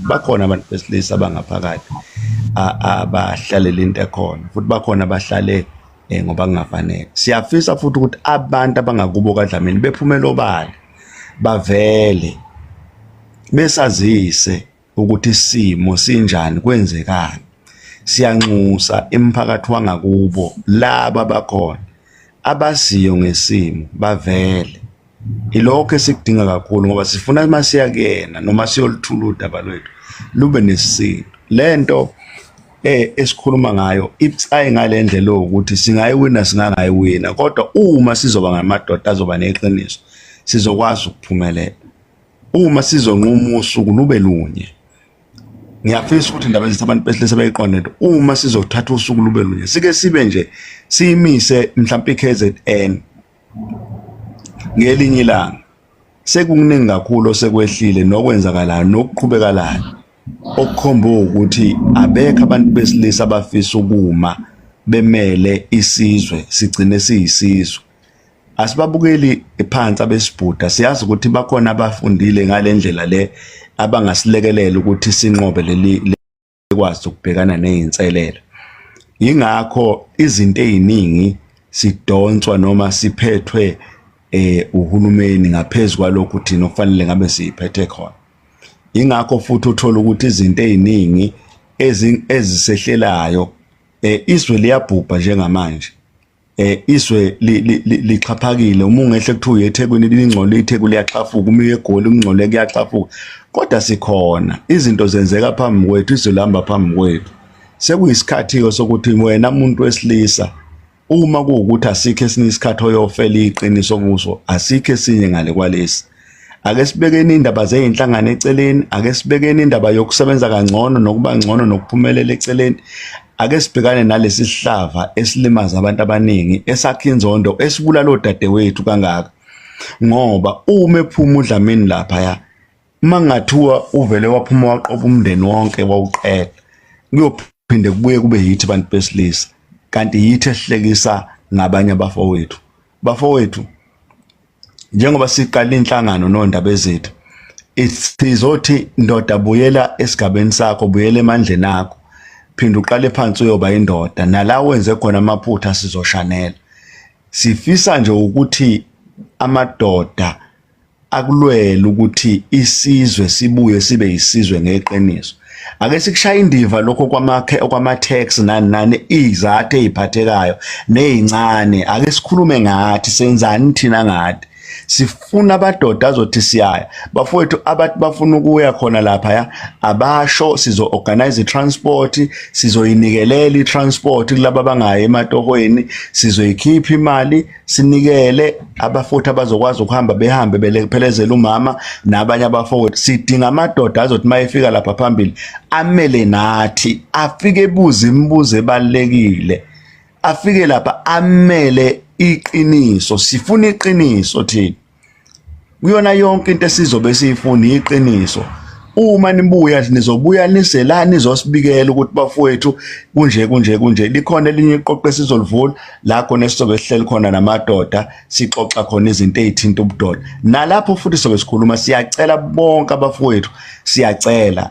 bakhona abantu besilisa abangaphakathi abahlalele into ekhona futhi bakhona abahlale eh, ngoba kungafanele siyafisa futhi ukuthi abantu abangakubo kadlamini bephumele obala bavele besazise ukuthi isimo sinjani kwenzekani siyanxusa emphakathi wangakubo laba bakhona abaziyo ngesimo bavele Ilokho esikudinga kakhulu ngoba sifuna uma siya kuyena noma siyoluthula udaba lwethu lube nesintu. Le nto eh esikhuluma ngayo ibucayi ngale ndlela ukuthi singayiwina singangayiwina kodwa uma sizoba ngamadoda azoba neqiniso sizokwazi ukuphumelela. Uma sizonquma usuku lube lunye. Ngiyafisa ukuthi indaba ezithi abantu besilisa bayiqonde into uma sizothatha usuku lube lunye sike sibe nje siyimise mhlawumbe iKZN ngelinye ilanga sekukuningi kakhulu osekwehlile nokwenzakalayo nokuqhubekalayo okukhomba ukuthi abekho abantu besilisa abafisa ukuma bemele isizwe sigcine siyisizwe asibabukeli phansi abesibhuda siyazi ukuthi bakhona abafundile ngale ndlela le abangasilekelela ukuthi sinqobe leli ekwazi ukubhekana nezinselelo ingakho izinto eziningi sidonswa noma siphethwe eh uhulumeni ngaphezulu kwalokho thina okufanele ngabe siyiphethe khona ingakho futhi uthola ukuthi izinto eziningi ezisehlelayo eh, izwe liyabhubha njengamanje eh izwe lixhaphakile uma ungehle kuthiwa uye eThekwini lingcole iTheku liyaxhafuka uma uye eGoli kungcole kuyaxhafuka kodwa sikhona izinto zenzeka phambi kwethu izwe lihamba phambi kwethu sekuyisikhathi-ke sokuthi wena muntu wesilisa uma kuwukuthi asikho esinye isikhathi oyofela iqiniso kuso asikho esinye ngale kwalesi ake sibekeni indaba zezinhlangano eceleni ake sibekeni indaba yokusebenza kangcono nokuba ngcono nokuphumelela eceleni ake sibhekane nalesi sihlava esilimaza abantu abaningi esakha inzondo esibulala odadewethu kangaka ngoba uma ephuma udlamini lapha ya mangathiwa uvele waphuma waqoba umndeni wonke wawuqela kuyophinde kubuye kube yithi abantu besilisa kanti yithi ehlekisa ngabanye abafowethu bafowethu njengoba siqala inhlangano nondaba ezethu sizothi ndoda buyela esigabeni sakho buyela emandleni akho phinde uqale phansi uyoba indoda nala wenze khona amaphutha sizoshanela sifisa nje ukuthi amadoda akulwele ukuthi isizwe sibuye sibe yisizwe ngeqiniso ake sikushaya indiva lokho kwamakhe okwama tax nani nani izathu eziphathekayo nezincane ake sikhulume ngathi senzani thina ngathi sifuna abadoda azothi siyaya bafowethu abathi bafuna ukuya khona lapha ya abasho sizo organize transport sizoyinikelela i transport kulabo abangayi ematohweni sizoyikhipha imali sinikele abafowethu abazokwazi ukuhamba behambe belephelezela umama nabanye abafowethu sidinga amadoda azothi uma efika lapha phambili amele nathi afike ebuze imibuzo ebalulekile afike lapha amele iqiniso sifuna iqiniso thina kuyona yonke into esizobe siyifuna iqiniso uma nibuya nizobuya nise la nizosibikela ukuthi bafowethu kunje kunje kunje likhona elinye iqoqo esizolivula la khona esizobe sihleli khona namadoda sixoxa khona izinto ezithinta ubudoda nalapho futhi sobe sikhuluma siyacela bonke abafowethu siyacela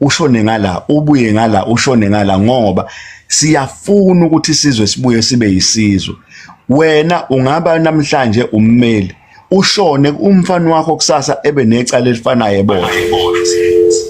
ushone ngala ubuye ngala ushone ngala ngoba siyafuna ukuthi sizwe sibuye sibe yisizwe wena ungaba namhlanje ummeli ushone umfana wakho kusasa ebe necala elifanayo ebona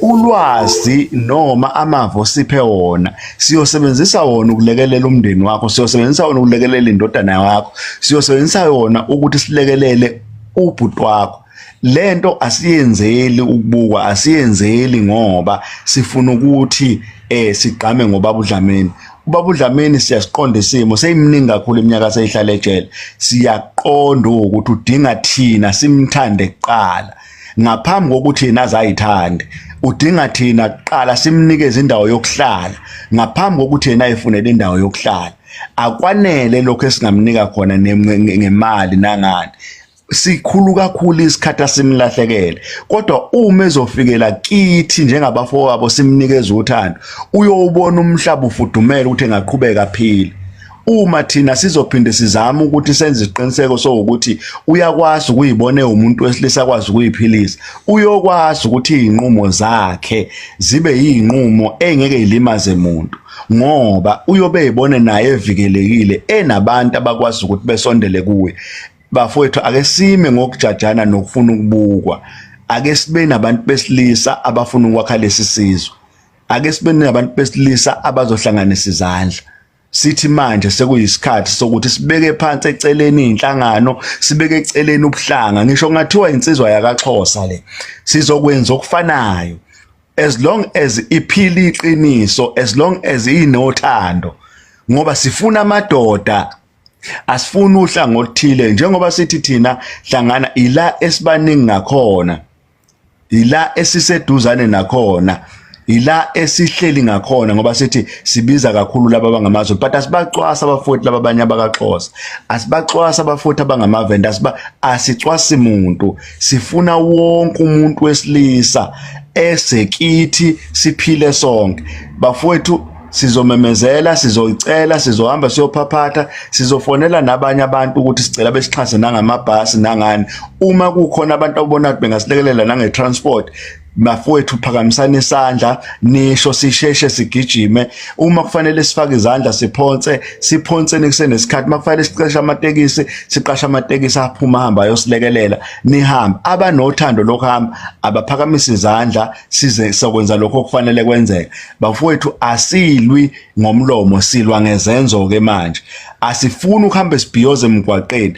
ulwazi noma amavo siphe wona siyosebenzisa wona ukulekelela umndeni wakho siyosebenzisa wona ukulekelela indodana yakho siyosebenzisa wona ukuthi silekelele ubhuti wakho lento asiyenzeli ukubukwa asiyenzeli ngoba sifuna ukuthi eh sigqame ngobaba uDlamini ubaba uDlamini siyasiqonda isimo seyimningi kakhulu iminyaka seyihlala ejele siyaqonda ukuthi udinga thina simthande kuqala ngaphambi kokuthi yena azayithande udinga thina kuqala simnikeze indawo yokuhlala ngaphambi kokuthi yena ayifunele indawo yokuhlala akwanele lokho esingamnika khona ngemali nangani sikhulu kakhulu isikhathi asimlahlekele kodwa uma ezofikela kithi njengabafowabo simnikeza uthando uyowubona umhlaba ufudumele ukuthi engaqhubeka aphile uma thina sizophinde sizama ukuthi senze isiqiniseko sokuthi uyakwazi ukuyibona umuntu wesilisa kwazi ukuyiphilisa uyokwazi ukuthi izinqumo zakhe zibe izinqumo engeke ilimaze umuntu ngoba uyobe ebone naye evikelekile enabantu abakwazi ukuthi besondele kuye bafowethu ake sime ngokujajana nokufuna ukubukwa ake sibe nabantu besilisa abafuna ukwakha lesi sizwe ake sibe nabantu besilisa abazohlanganisa izandla sithi manje sekuyisikhathi sokuthi sibeke phansi eceleni inhlangano sibeke eceleni ubuhlanga ngisho kungathiwa insizwa yakaXhosa le sizokwenza okufanayo as long as iphila iqiniso as long as inothando ngoba sifuna amadoda asifuni uhlanga oluthile njengoba sithi thina hlangana ila esibaningi ngakhona ila esiseduzane nakhona ila esihleli ngakhona ngoba sithi sibiza kakhulu laba bangamazwe but asibacwasa abafuthi laba abanye abakaxhosa asibacwasa abafuthi abangamavenda asiba asicwasi muntu sifuna wonke umuntu wesilisa esekithi siphile sonke bafowethu sizomemezela sizoyicela sizohamba siyophaphatha sizofonela nabanye abantu ukuthi sicela besixhase nangamabhasi nangani uma kukhona abantu abona ukuthi bengasilekelela nange-transport bafowethu phakamisana isandla nisho sisheshe sigijime uma kufanele sifake izandla siphonse siphonse nikusenesikhathi uma kufanele siqashe amatekisi siqashe amatekisi aphuma hamba ayosilekelela nihamba abanothando lokuhamba abaphakamise izandla size sokwenza lokho okufanele kwenzeke bafowethu asilwi ngomlomo silwa ngezenzo ke manje asifuni ukuhamba sibhiyoze emgwaqeni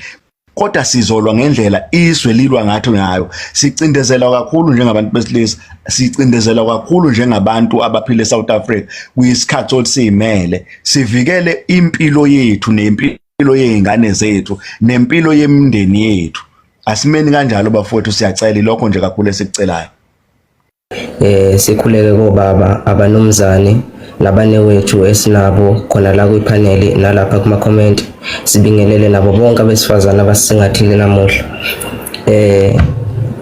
kodwa sizolwa ngendlela izwe lilwa ngathi ngayo sicindezelwa kakhulu njengabantu besilisa sicindezelwa kakhulu njengabantu abaphila eSouth Africa kuyisikhathi sokuthi simele sivikele impilo yethu nempilo yeingane zethu nempilo yemndeni yethu asimeni kanjalo bafowethu siyacela lokho nje kakhulu esikucelayo eh sikhuleke kobaba abanumzane nabanewethu esinabo khona la kwiphaneli nalapha kuma comment sibingelele nabo bonke abesifazane abasingathile namuhla eh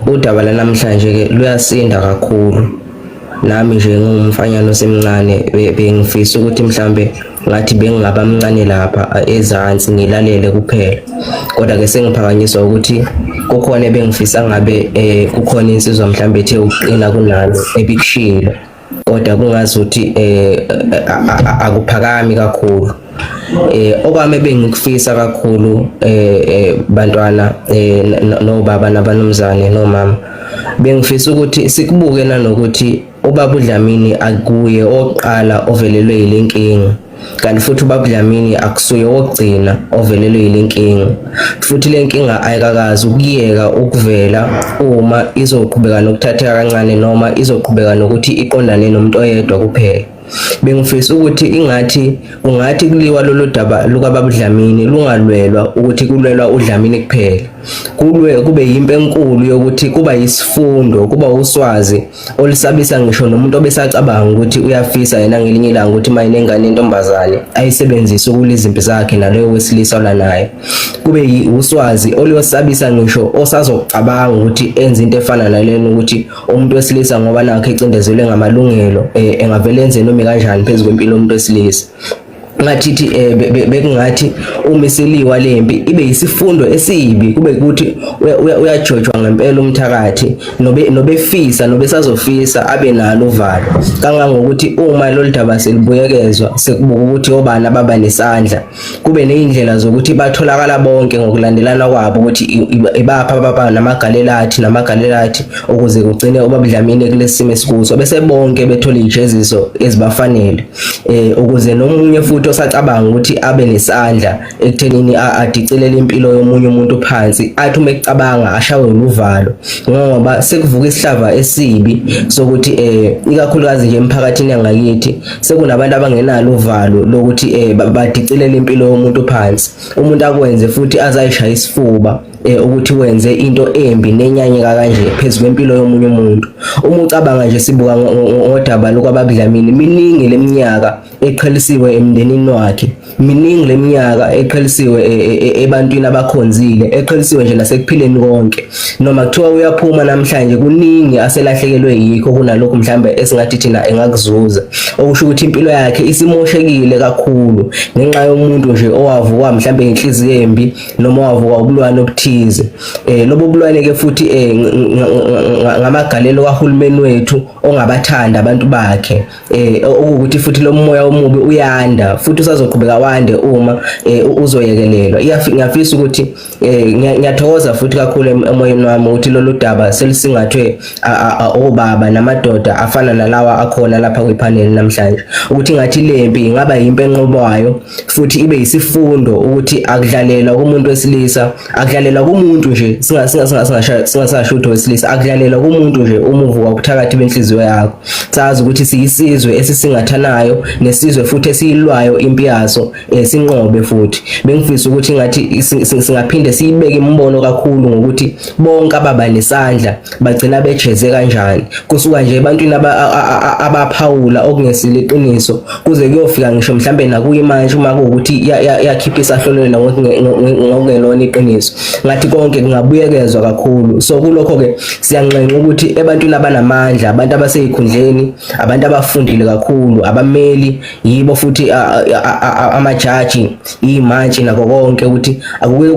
udaba lanamhlanje ke luyasinda kakhulu nami nje ngumfanyana osemncane bengifisa ukuthi mhlambe ngathi bengingaba mncane lapha ezansi ngilalele kuphela kodwa ke sengiphakanyiswa ukuthi kukhona ebengifisa ngabe eh kukhona insizwa mhlambe ethe uqina kunalo ebikushilo kodwa kungazi ukuthi eh akuphakami kakhulu eh okwami bengikufisa kakhulu eh, eh bantwana eh nobaba nabanumzane nomama bengifisa ukuthi sikubuke nanokuthi Ubaba uDlamini akuye oqala ovelelwe yile nkinga kanti futhi ubaba Dlamini akusuye wokugcina ovelelwe yile nkinga futhi le nkinga ayikakazi ukuyeka ukuvela uma izoqhubeka nokuthatheka kancane noma izoqhubeka nokuthi iqondane nomuntu oyedwa kuphela bengifisa ukuthi ingathi ungathi kuliwa lolu daba lukababa uDlamini lungalwelwa ukuthi kulwelwa uDlamini kuphela kulwe kube yimpe enkulu yokuthi kuba yisifundo kuba uswazi olisabisa ngisho nomuntu obesacabanga ukuthi uyafisa yena ngelinye ilanga ukuthi uma inengane yentombazane ayisebenzise ukula izimpi zakhe naloyo wesilisa olanayo kube uswazi oluyosabisa ngisho osazocabanga ukuthi enze into efana nalena ukuthi umuntu wesilisa ngoba nakhe ecindezelwe ngamalungelo eh, engavele enze noma kanjani phezu kwempilo yomuntu wesilisa ngathithi eh, bekungathi uma isiliwa lempi ibe yisifundo esibi kube ukuthi uyajojwa ngempela umthakathi nobe nobefisa nobesazofisa abe nalo uvalo kangangokuthi uma lolu daba selibuyekezwa sekubuka ukuthi obani ababa nesandla kube nezindlela zokuthi batholakala bonke ngokulandelana kwabo ukuthi ibapha baba namagalelathi namagalelathi ukuze kugcine obabudlamini kulesimo esikuso bese bonke bethola ijeziso ezibafanele eh ukuze nomunye futhi osacabanga ukuthi abe nesandla ekuthenini adicilele impilo yomunye umuntu phansi athi uma ecabanga ashawe uluvalo ngoba sekuvuka isihlava esibi sokuthi eh ikakhulukazi nje emphakathini yangakithi sekunabantu abangenalo uvalo lokuthi eh badicilele impilo yomuntu phansi umuntu akwenze futhi azayishaya isifuba eh, ukuthi wenze into embi nenyanyeka kanje phezu kwempilo yomunye umuntu uma ucabanga nje sibuka ngodaba lokwabakudlamini miningi leminyaka eqhelisiwe emndenini wakhe miningi leminyaka eqhelisiwe e, e, e, ebantwini abakhonzile eqhelisiwe nje nasekuphileni konke noma kuthiwa uyaphuma namhlanje kuningi aselahlekelwe yikho kunalokho mhlambe esingathi thina engakuzuza okusho ukuthi impilo yakhe isimoshekile kakhulu ngenxa yomuntu nje owavuka mhlambe inhliziyo embi noma wavuka ubulwane obuthize eh lobo bulwane ke futhi eh ngamagalelo kahulumeni wethu ongabathanda abantu bakhe eh ukuthi futhi lo moya omubi uyanda futhi usazoqhubeka wande uma eh, uzoyekelelwa ngiyafisa ukuthi eh, ngiyathokoza futhi kakhulu emoyeni wami ukuthi lolu daba selisingathwe obaba namadoda afana nalawa akhona lapha kwipanel namhlanje ukuthi ngathi lempi ingaba yimpe enqobayo futhi ibe yisifundo ukuthi akudlalelwa kumuntu wesilisa akudlalelwa kumuntu nje singasasho ukuthi wesilisa akudlalelwa kumuntu nje uma uvuka kuthakathi benhliziyo yakho sazi ukuthi siyisizwe esisingathanayo nesizwe futhi esiyilwayo impi yaso eh, sinqobe futhi bengifisa ukuthi ngathi singaphinde siyibeke imibono kakhulu ngokuthi bonke ababa nesandla bagcina bejeze kanjani kusuka nje ebantwini abaphawula okungesile iqiniso kuze kuyofika ngisho mhlambe nakuyi manje uma kuwukuthi yakhipha isahlolweni ngokungelona iqiniso ngathi konke kungabuyekezwa kakhulu so kulokho ke siyanxenxa ukuthi ebantwini abanamandla abantu abaseyikhundleni abantu abafundile kakhulu abameli yibo futhi amajaji imantshi nako konke ukuthi akuke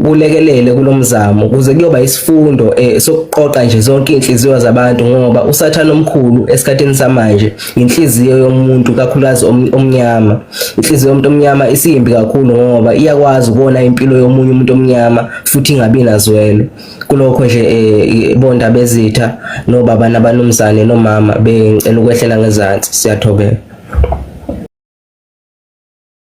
kulekelele kulomzamo kuze kuyoba isifundo eh, sokuqoqa nje zonke inhliziyo zabantu ngoba usathana omkhulu esikhathini samanje inhliziyo yomuntu kakhulukazi omnyama inhliziyo yomuntu omnyama isiyimbi kakhulu ngoba iyakwazi ukubona impilo yomunye umuntu omnyama futhi ingabi nazwelo kulokho nje eh, bonda bezitha nobaba nabanumzane nomama bengicela ukwehlela ngezansi siyathobeka